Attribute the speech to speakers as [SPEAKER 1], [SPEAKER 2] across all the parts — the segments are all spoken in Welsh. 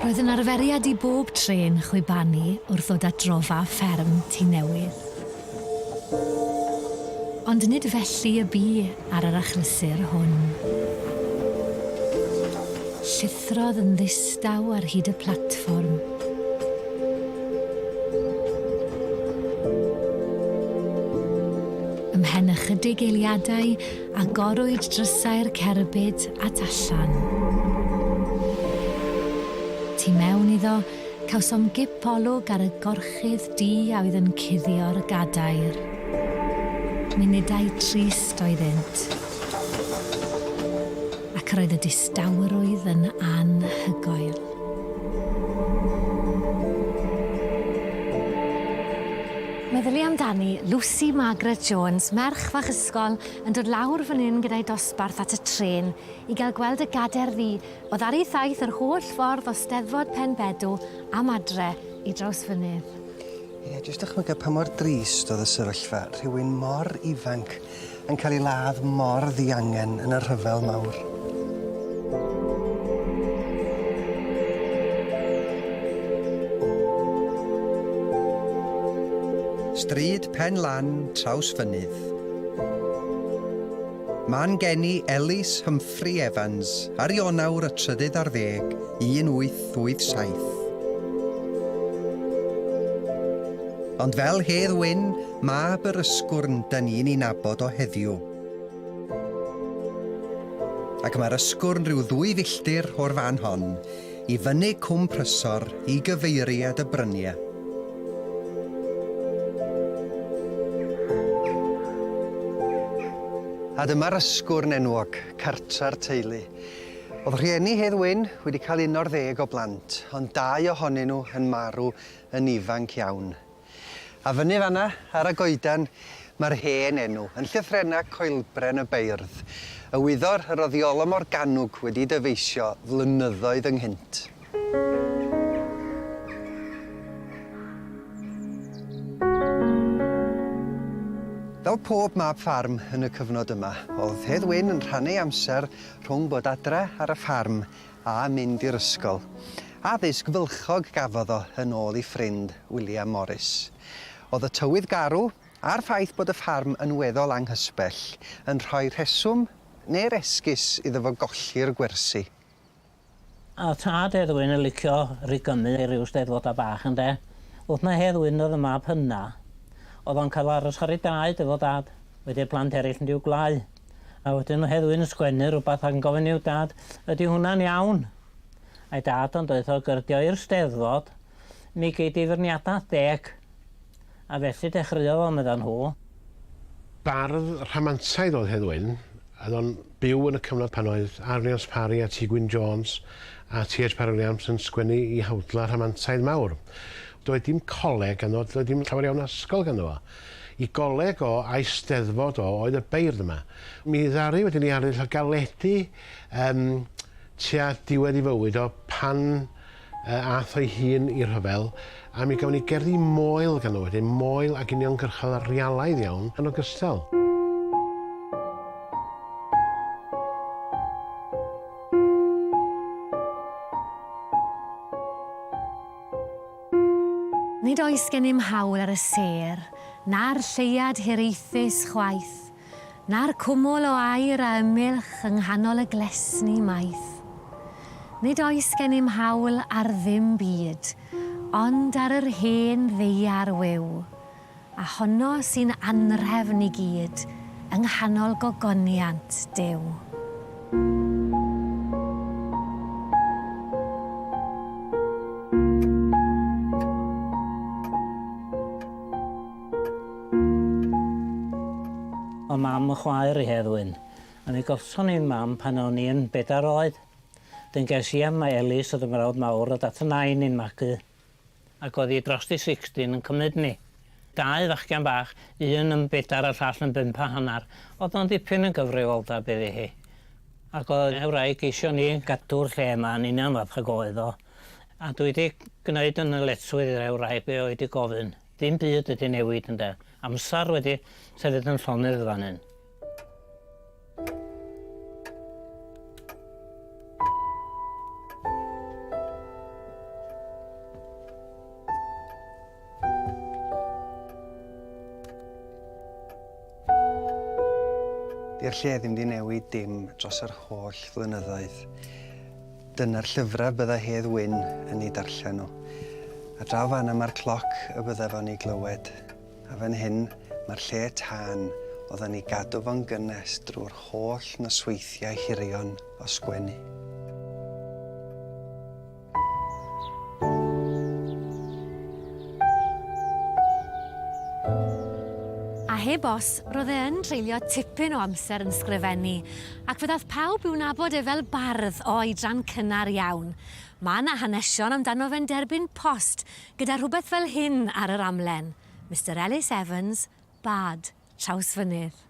[SPEAKER 1] Roedd yn arferiad i bob trên chwibanu wrth ddod at drofa fferm Tŷ Newydd. Ond nid felly y bu ar yr achlysur hwn. Llithrodd yn ddistaw ar hyd y platfform. Ymhen ychydig eiliadau, agorwyd drysau'r cerbyd at allan. Tu mewn iddo, Cawsom gip olwg ar y gorchudd du a oedd yn cuddio'r gadair. Munudau trist oeddynt, ac yr oedd y distawrwydd yn anhygoel. Meddylia amdani, Lucy Margaret Jones, merch fach ysgol, yn dod lawr fan hyn gyda'i dosbarth at y trên i gael gweld y gadair ddu, O ddaru thaith yr holl ffordd o Steddfod Pen Bedw am adre i Drawsfynydd. Ie, jyst dychmyga pa mor drist oedd y sefyllfa, rhywun mor ifanc yn cael ei ladd mor ddiangen yn y rhyfel mawr. Stryd Pen Lan, Trawsfynydd. Man geni Elis Humphrey Jeffrey Evans ar Ionawr y trydydd ar ddeg, 1887. Ond fel Hedd Wyn, mab yr ysgwrn da ni'n ei nabod o heddiw. Ac mae'r ysgwrn rhyw ddwy filltir o'r fan hon, I fyny Cwm Prysor i gyfeiriad y bryniau. A dyma'r ysgwrn enwog, cartre'r teulu. Oedd rhieni Hedd Wyn wedi cael un o'r ddeg o blant, ond dau ohonyn nhw yn marw yn ifanc iawn. A fyny fan'na, ar y goeden, mae'r hen enw, yn llythrennau coelbren y beirdd, y wyddor, yr oddiolo Morgannwg wedi dyfeisio flynyddoedd ynghynt. Fel pob mab ffarm yn y cyfnod yma, oedd Hedd Wyn yn rhannu ei amser rhwng bod adre ar y ffarm a mynd i'r ysgol. Addysg fylchog gafodd o yn ôl ei ffrind, William Morris. Oedd y tywydd garw, a'r ffaith bod y ffarm yn weddol anghysbell, yn rhoi rheswm, neu'r esgus, iddo fo golli'r gwersi. A oedd tad Edwin yn licio rhigymu ei ryw steddfodau bach, ynde? Wrth mai Heddwyn oedd y mab hynna, oedd o'n cael aros ar ei draed efo dad, wedi'r plant eraill yn rhyw gwlâu. A wedyn o Hedd Wyn yn sgwennu rhywbeth ac yn gofyn i'w dad, ydy hwnna'n iawn? A'i dad yn deutha o gyrdio i'r Steddfod, mi gei di feirniadaeth deg. A felly dechreuodd o, medda nhw. Bardd rhamantaidd oedd Hedd Wyn, oedd o'n byw yn y cyfnod pan oedd Arlions Parry a Ti Gwyn Jones a Ti Haitch Parry Williams yn sgwennu i hawdla rhamantaidd mawr. Doedd dim coleg ganddo, doedd dim llawer iawn o ysgol ganddo fo. Y coleg o Eisteddfod o oedd y beirdd yma. Mi ddaru wedyn 'i arddull o galedi yym tua diwedd 'i fywyd o pan yy a'th o'i hun i'r rhyfel, a mi gafon ni gerddi moel ganddo wedyn, moel ag uniongyrchol realaidd iawn yn ogystal. Nid oes gennym hawl ar y sêr, na'r lleuad hiraethus chwaith, na'r cwmwl o aer a ymylch yng nghanol y glesni maith. Nid oes gennym hawl ar ddim byd, ond ar yr hen ddaear wiw, A honno sy'n anrhefn i gyd yng nghanol gogoniant Duw. O mam y chwaer i Hedd Wyn. A mi golson i'n mam pan o'n i yn bedair oed. Dyn ges i am Mae Elis oedd yn frawd mawr o dad fy nain i'n magu. ac oedd hi drost i sixteen yn cymryd ni. Dau fachgen bach, un yn bedar a'r llall yn bump a hanner, oedd o'n dipyn yn gyfrifoldeb iddi hi. Ac oedd y wraig eisiau ni gadw'r lle 'ma yn union fath ag oedd o. A dwi 'di gneud yn ddyletswydd i'r wraig be' oedd 'di gofyn. Dim byd wedi newid ynde. Amsar wedi sefyll yn llonydd fan hyn. Di'r lle ddim di newid dim dros yr holl flynyddoedd. Dyna'r llyfrau bydda Hedd Wyn yn ei darllen nhw. A draw fan yma'r cloc y bydda fo'n ei glywed. A fan hyn, mae'r lle tân, oeddan ni gadw fo'n gynnes drwy'r holl nosweithiau hirion o sgwennu. A heb os, roedd e yn treulio tipyn o amser yn sgrifennu, ac fe ddaeth pawb i'w nabod e fel bardd o oedran cynnar iawn. Mae 'na hanesion amdano fe'n derbyn post Gyda rhywbeth fel hyn ar yr amlen, Mister Ellis Evans, Bard, Trawsfynydd.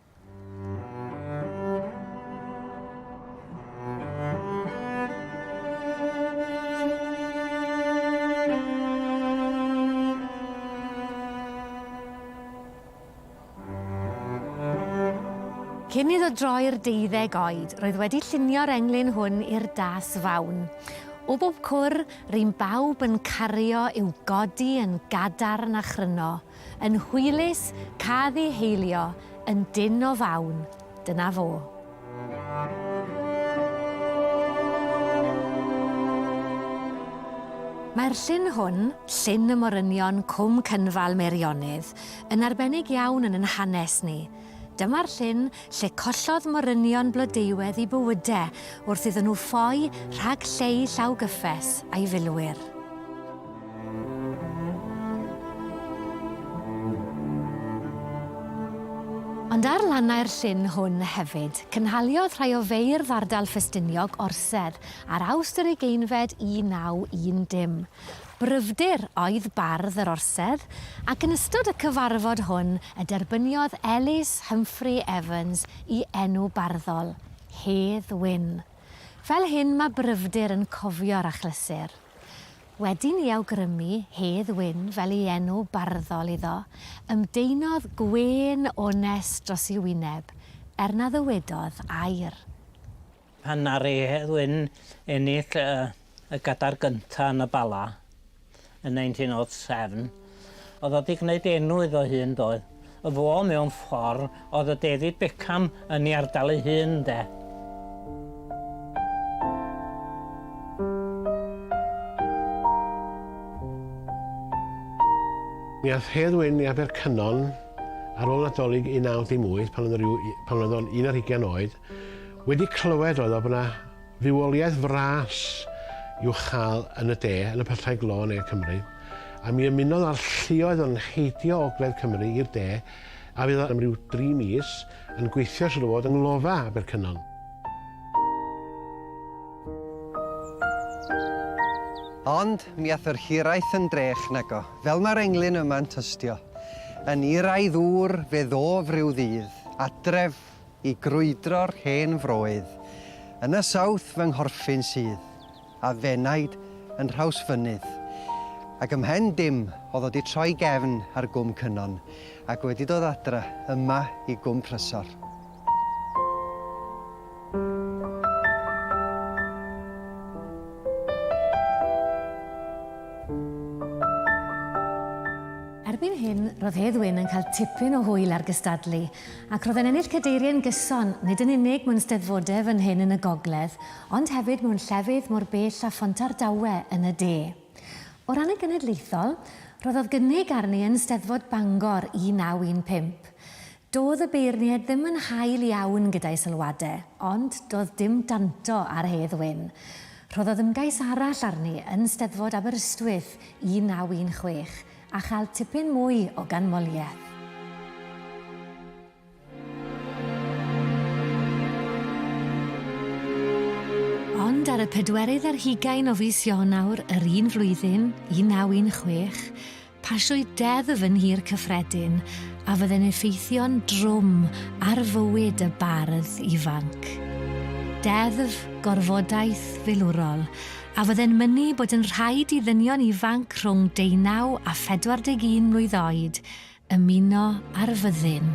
[SPEAKER 1] Cyn iddo droi'r deuddeg oed, roedd wedi llunio'r englyn hwn i'r das fawn. O bob cwr, ry'n bawb yn cario i'w godi yn gadarn a chryno, yn hwylus, cad i heilio, yn dyn o fawn. Dyna fo. Mae'r llun hwn, llun y morynion Cwm Cynfal Meirionnydd, yn arbennig iawn yn yn hanes ni. Dyma'r llyn lle collodd morynion Blodeuwedd i bywyde wrth iddyn nhw ffoi rhag lleu llaw gyffes a'i filwyr. Ond ar lannau'r llyn hwn hefyd, cynhaliodd rhai o feirdd ardal Ffestiniog orsedd ar Awst yr Ugeinfed 1910. Bryfdir oedd bardd yr Orsedd, ac yn ystod y cyfarfod hwn y derbyniodd Ellis Humphrey Evans i enw barddol, Hedd Wyn. Fel hyn mae Bryfdir yn cofio'r achlysur. Wedyn i awgrymu Hedd Wyn fel ei enw barddol iddo, ymdeinodd gwên onest dros ei wyneb, er na ddywedodd air. Pan ddaru Hedd Wyn ennill y y gadar gynta yn y Bala yn 1907, o'dd o 'di gneud enw iddo hun doedd? Y fo mewn ffor o'dd y David Beckham yn 'i ardal 'i hun ynde? Mi ath Hedd Wyn i Abercynon ar ôl Nadolig 19 dim wyth pan o'dd yn ryw u- pan oedd o'n un ar hugian oed. Wedi clywed oedd o bod 'na fywoliaeth fras i'w chael yn y de, yn y pyllau glo yn ne Cymru, a mi ymunodd â'r lluoedd yn heidio ogledd Cymru i'r de, a fydd o am ryw dri mis yn gweithio siŵr o fod yng nglofa Abercynon. Ond mi ath yr hiraeth yn drech nago, fel mae'r englyn yma'n tystio, yn iraidd ŵr fe ddof ryw ddydd, adref, I grwydro'r hen froedd. Yn y south fy nghorffyn sydd, a f'enaid yn Nhrawsfynydd. Ac ym mhen dim o'dd o 'di troi gefn ar Gwm Cynon, ac wedi dod adra yma i Gwm Prysor. Erbyn hyn, ro'dd Hedd Wyn yn cael tipyn o hwyl ar gystadlu, Ac roedd e'n ennill cadeiriau'n gyson, nid yn unig mewn Steddfodau fan hyn yn y gogledd, ond hefyd mewn llefydd mor bell â Phontardawe yn y de. O ran y genedlaethol, rhoddodd gynnig arni yn Steddfod Bangor 1915. Doedd y beirniaid ddim yn hael iawn gyda'i sylwadau, ond doedd dim danto ar Hedd Wyn. Rhoddodd ymgais arall arni yn Steddfod Aberystwyth 1916, A chael tipyn mwy o ganmoliaeth. Ond ar y pedwerydd ar hugain o fis Ionawr yr un flwyddyn, 1916, pasiwyd deddf yn Nhŷ'r Cyffredin a fydde'n effeithio'n drwm ar fywyd y bardd ifanc. Deddf gorfodaeth filwrol a fydde'n mynnu bod yn rhaid i ddynion ifanc rhwng deunaw a 41 mlwydd oed ymuno â'r fyddin.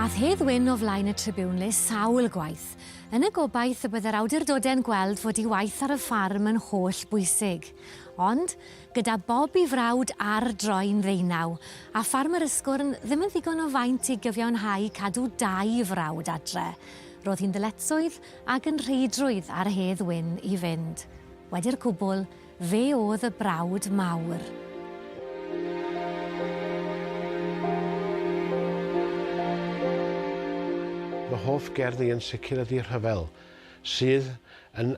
[SPEAKER 1] Aeth Hedd Wyn o flaen y Tribune le sawl gwaith, yn y gobaith y byddai'r awdurdodau'n gweld fod ei waith ar y ffarm yn holl bwysig. Ond, Gyda Bob i frawd ar droi'n ddeunaw, a ffarmwr Ysgwrn ddim yn ddigon o faint i gyfiawnhau cadw dau frawd adre, roedd hi'n ddyletswydd ac yn rheidrwydd ar Hedd Wyn i fynd. Wedi'r cwbl, fe oedd y brawd mawr. Fy hoff gerddi yn sicr ydi Rhyfel, sydd yn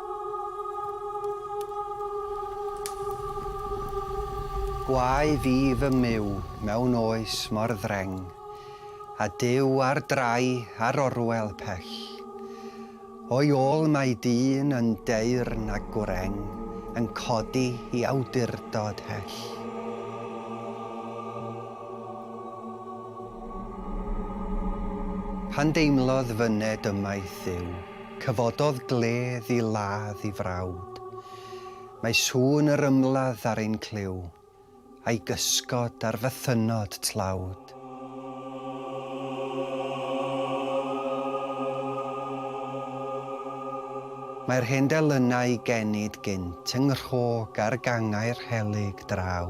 [SPEAKER 1] Gwae fi fy myw mewn oes mor ddreng, A Duw ar drai ar orwel pell. O'i ôl mae dyn yn deyrn a gwreng, Yn codi i awdurdod hell. Pan deimlodd fyned ymaith Dduw, Cyfododd gledd i ladd i frawd. Mae sŵn yr ymladd ar ein clyw, a'i gysgod ar fythynnod tlawd. Mae'r hen delynau i genid gynt yng nghrog ar gangau'r helyg draw.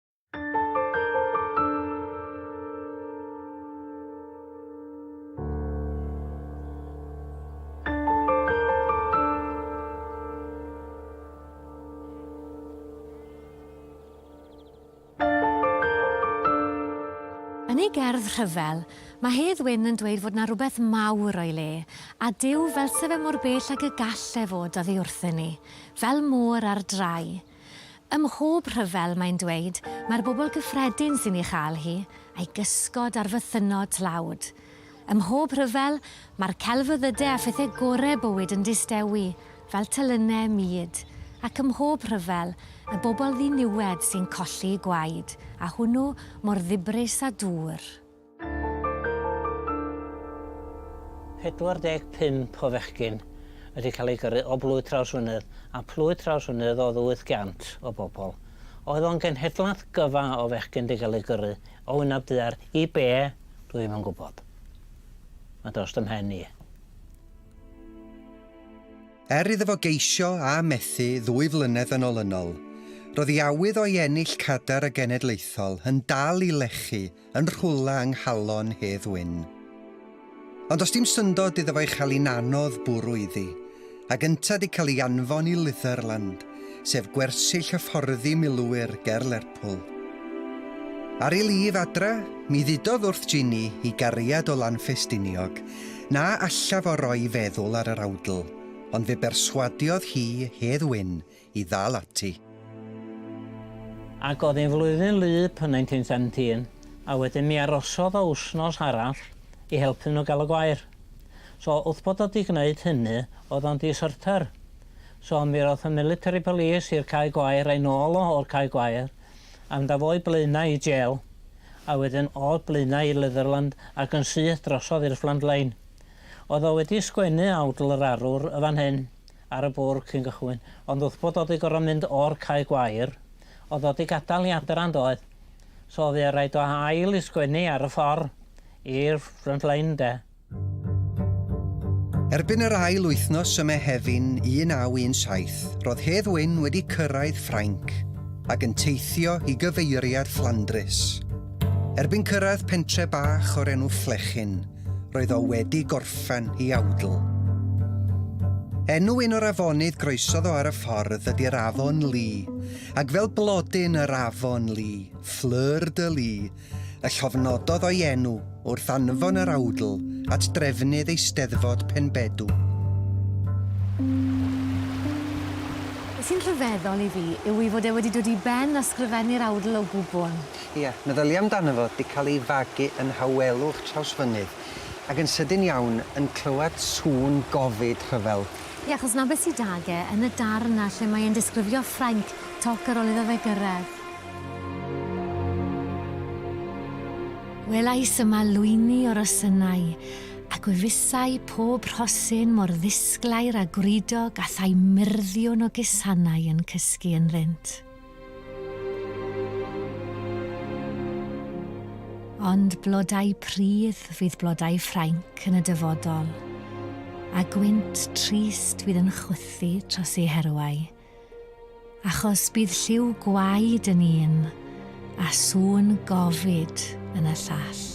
[SPEAKER 1] ei gerdd rhyfel, mae Hedd Wyn yn dweud fod na rhywbeth mawr o'i le, a Dyw fel se fe mor bell ag y gall e fod oddi wrthyn ni, fel môr ar drai. Ym mhob rhyfel, mae'n dweud, mae'r bobl gyffredin sy'n ei chael hi, a'i gysgod ar fythynnod tlawd. Ym mhob rhyfel, mae'r celfyddydau a phethau gorau bywyd yn distewi, fel telynau mud, ac ym mhob rhyfel, y bobl ddiniwed sy'n colli gwaed, a hwnnw mor ddibrys â dŵr. 45 o fechgyn wedi cael eu gyrru o Blwydd Trawsfynydd a Phlwydd Trawsfynydd oedd 800 o bobl. Oedd o'n genhedlaeth gyfa o fechgyn wedi cael eu gyrru o Wynab Duar i be? Dwi ddim yn gwybod. Mae dros fy mhen i. Er iddo fo geisio a methu ddwy flynedd yn olynol, roedd ei awydd o'i ennill cadar y genedlaethol yn dal i lechu yn rhwla yng nghalon Hedd Wyn. Ond does dim syndod iddo fo'i chael hi'n anodd bwrw iddi, a gynta di cael ei anfon i Litherland, sef gwersyll hyfforddi milwyr ger Lerpwl. Ar ei lif adra, mi ddudodd wrth Ginny, ei gariad o Lanffestiniog, na allaf o roi feddwl ar yr awdl, ond fe berswadiodd hi Hedd Wyn i ddal ati. Ac oedd hi'n flwyddyn wlyb yn 1917, a wedyn mi arosodd o wsnos arall i helpu nhw gael y gwair. So wrth bod o 'di gwneud hynny, oedd o'n deserter. So mi roth y military police i'r cae gwair a'i nôl o o'r cae gwair, a mynd â fo i Blaenau i jail, a wedyn o Blaenau i Leatherland ac yn syth drosodd i'r Fflandlein. Oedd o wedi sgwennu awdl yr arwr y fan hyn, ar y bwrdd cyn cychwyn, ond wrth bod o 'di gor'o' mynd o'r cae gwair, o'dd o 'di gadal i adra yndoedd? So o'dd 'i raid o ail i sgwennu ar y ffor i'r front line 'de? Erbyn yr ail wythnos ym Mehefin 1917, ro'dd Hedd Wyn wedi cyrraedd Ffrainc, ag yn teithio i gyfeiriad Fflandrys. Erbyn cyrraedd pentre bach o'r enw Flechin, roedd o wedi gorffen i awdl. Enw un o'r afonydd groesodd o ar y ffordd ydy'r Afon Lee, ac fel blodyn yr Afon Lee, Fleur de Lee, y llofnododd o'i enw wrth anfon yr awdl at drefnydd Eisteddfod Penbedw. Be sy'n rhyfeddol i fi yw ei fod e wedi dod i ben a sgrifennu'r awdl o gwbl. Ia, meddylia amdano fo, 'di cael ei fagu yn nhawelwch Trawsfynydd, ac yn sydyn iawn yn clywed sŵn gofid rhyfel. Ie, achos 'na beth sy 'da ge, yn y darn 'na lle mae e'n disgrifio Ffrainc, toc ar ôl iddo fe gyrraedd. Welais yma lwyni o rosynnau, a gwefusai pob rhosyn mor ddisglair a gwridog a thai myrddïwn o gusanau yn cysgu ynddynt. Ond blodau pridd fydd blodau Ffrainc yn y dyfodol, a gwynt trist fydd yn chwythu tros ei herwau, achos bydd lliw gwaed yn un, a sŵn gofid yn y llall.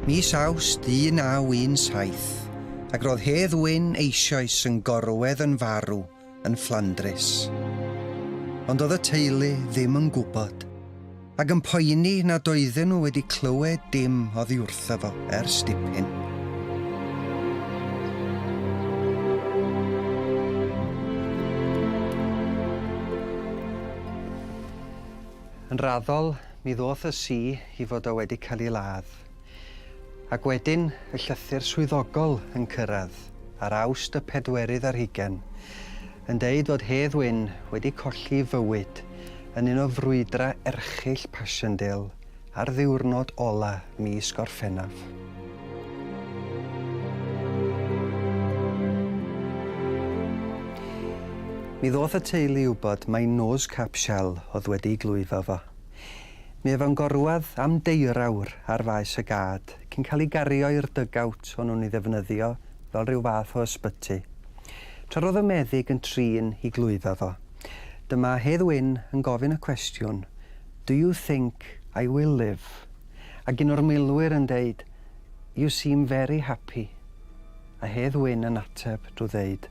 [SPEAKER 1] Mis Awst 1917. ac roedd Hedd Wyn eisioes yn gorwedd yn farw yn Fflandrys. Ond oedd y teulu ddim yn gwybod, ac yn poeni nad oedden nhw wedi clywed dim oddi wrtho fo ers dipyn. Yn raddol, mi ddoth y si i fod o wedi cael ei ladd. Ac wedyn y llythyr swyddogol yn cyrraedd ar Awst y pedwerydd ar hugain, yn deud fod Hedd Wyn wedi colli fywyd yn un o frwydrau erchyll Passchendaele ar ddiwrnod ola mis Gorffennaf. Mi ddoth y teulu i wybod mai nos cap Shell oedd wedi glwyfo fo. Mi ef yn gorwedd am deurawr ar faes y gad cyn cael ei gario i'r dug-out o'n nhw'n ei ddefnyddio fel rhyw fath o ysbyty. Tra roedd y meddyg yn trin i glwydda fo. Dyma Hedd Wyn yn gofyn y cwestiwn, Do you think I will live? Ac un o'r milwyr yn deud, You seem very happy. A Hedd Wyn yn ateb drwy ddeud,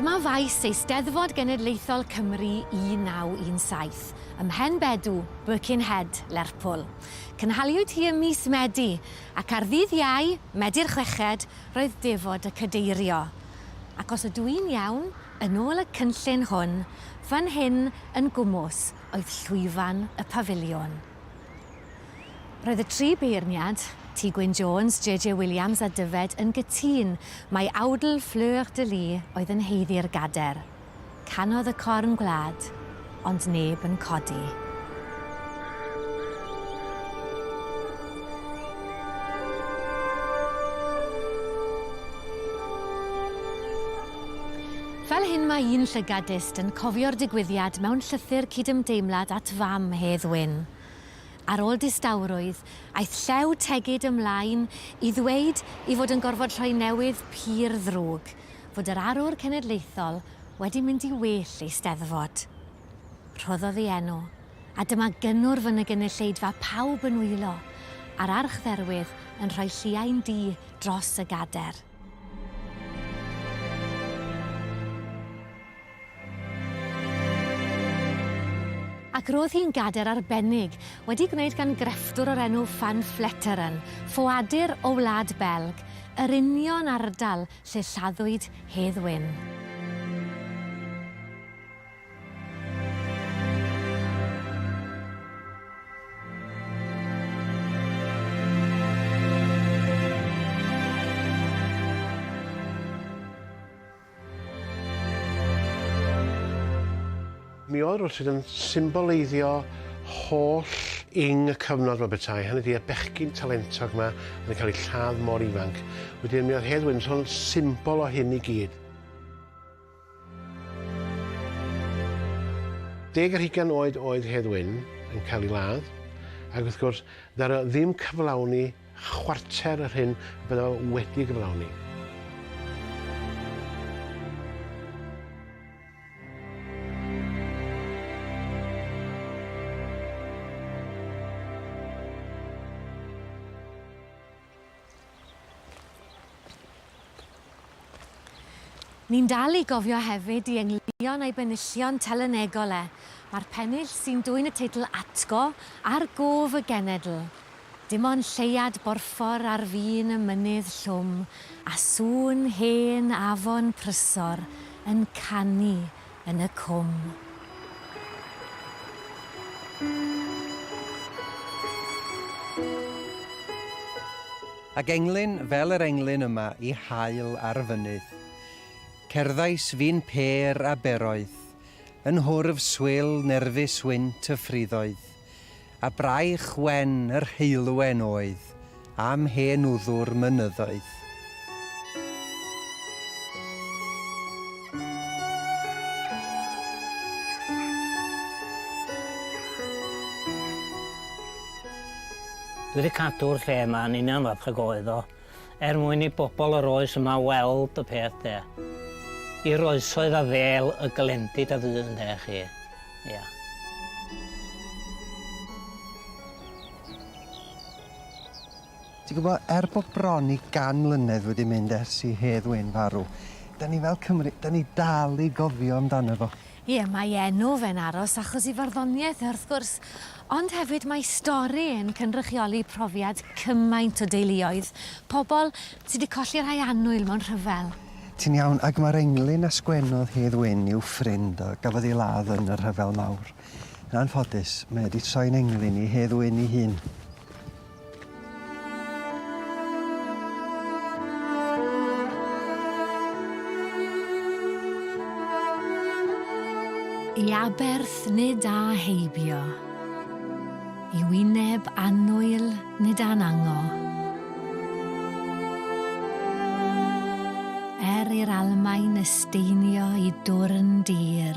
[SPEAKER 1] Dyma faes Eisteddfod Genedlaethol Cymru 1917, ym Mhen Bedw, Birkenhead, Lerpwl. Cynhaliwyd hi ym mis Medi, ac ar ddydd Iau, Medi'r Chweched, roedd defod y Cadeirio. Ac os ydw i'n iawn, yn ôl y cynllun hwn, fan hyn yn gwmws oedd llwyfan y Pafiliwn. Roedd y tri beirniad, Tŷ Gwyn Jones, JJ Williams a Dyfed, yn gytûn mai awdl Fleur de Lys oedd yn haeddu'r gader. Canodd y corn gwlad, ond neb yn codi. Fel hyn mae un llygadist yn cofio'r digwyddiad mewn llythyr cydymdeimlad at fam Hedd Wyn. Ar ôl distawrwydd, aeth Llew Tegid ymlaen i ddweud i fod yn gorfod rhoi newydd pur ddrwg fod yr arwr cenedlaethol wedi mynd i well ei Steddfod. Rhoddodd ei enw, a dyma gynnwrf yn y gynulleidfa pawb yn wylo, a'r archdderwydd yn rhoi lliain du dros y gader. Ac roedd hi'n gader arbennig, wedi gwneud gan grefftwr o'r enw Van Vleteren, ffoadur o Wlad Belg, yr union ardal lle lladdwyd Hedd Wyn. Mi oedd Rwtyd yn symboleiddio holl ing y cyfnod fel bethau, hynny ydy y bechgyn talentog yma yn cael ei lladd mor ifanc. Wedyn mi oedd Hedd Wynto'n symbol o hyn i gyd. Deg ar hugain oed oedd Hedd Wyn yn cael ei ladd, ac wrth gwrs, ddaru o ddim cyflawni chwarter yr hyn y bydda o wedi gyflawni. Ni'n dal i gofio hefyd i engllion a'i benillion telynegol e, mae'r pennill sy'n dwyn y teitl Atgo ar gof y genedl. Dim ond lleuad borffor ar fin y mynydd llwm a sŵn hen afon prysor yn canu yn y cwm. Ac englyn fel yr englyn yma i haul ar y fynydd. Cerddais fi'n pêr a beroedd, yn hwrf swil nerfus wynt y ffriddoedd, A braich wen yr heulwen oedd am hen wddw'r mynyddoedd. Dwi 'di cadw'r lle 'ma yn union fatha ag oedd o. Er mwyn i bobl yr oes yma weld y peth de. I'r oesoedd a ddêl y glendid a fu ynde chi. Ia. Ti'n gwybod, er bod bron i gan mlynedd wedi mynd ers i Hedd Wyn farw, 'dan ni fel Cymry, 'dan ni dal i gofio amdano fo. Ie, mae enw fe'n aros achos ei farddoniaeth e, wrth gwrs, ond hefyd mae stori e'n cynrychioli profiad cymaint o deuluoedd, pobl sy' 'di colli rhai annwyl mewn rhyfel. Ti'n iawn, ac mae'r englyn a sgwennodd Hedd Wyn i'w ffrind a gafodd ei ladd yn y Rhyfel Mawr. Yn anffodus, mae e 'di troi'n englyn i Hedd Wyn ei hun. I aberth nid â heibio, i wyneb annwyl nid â'n ango. Er i'r Almaen esteinio i dwrn dir,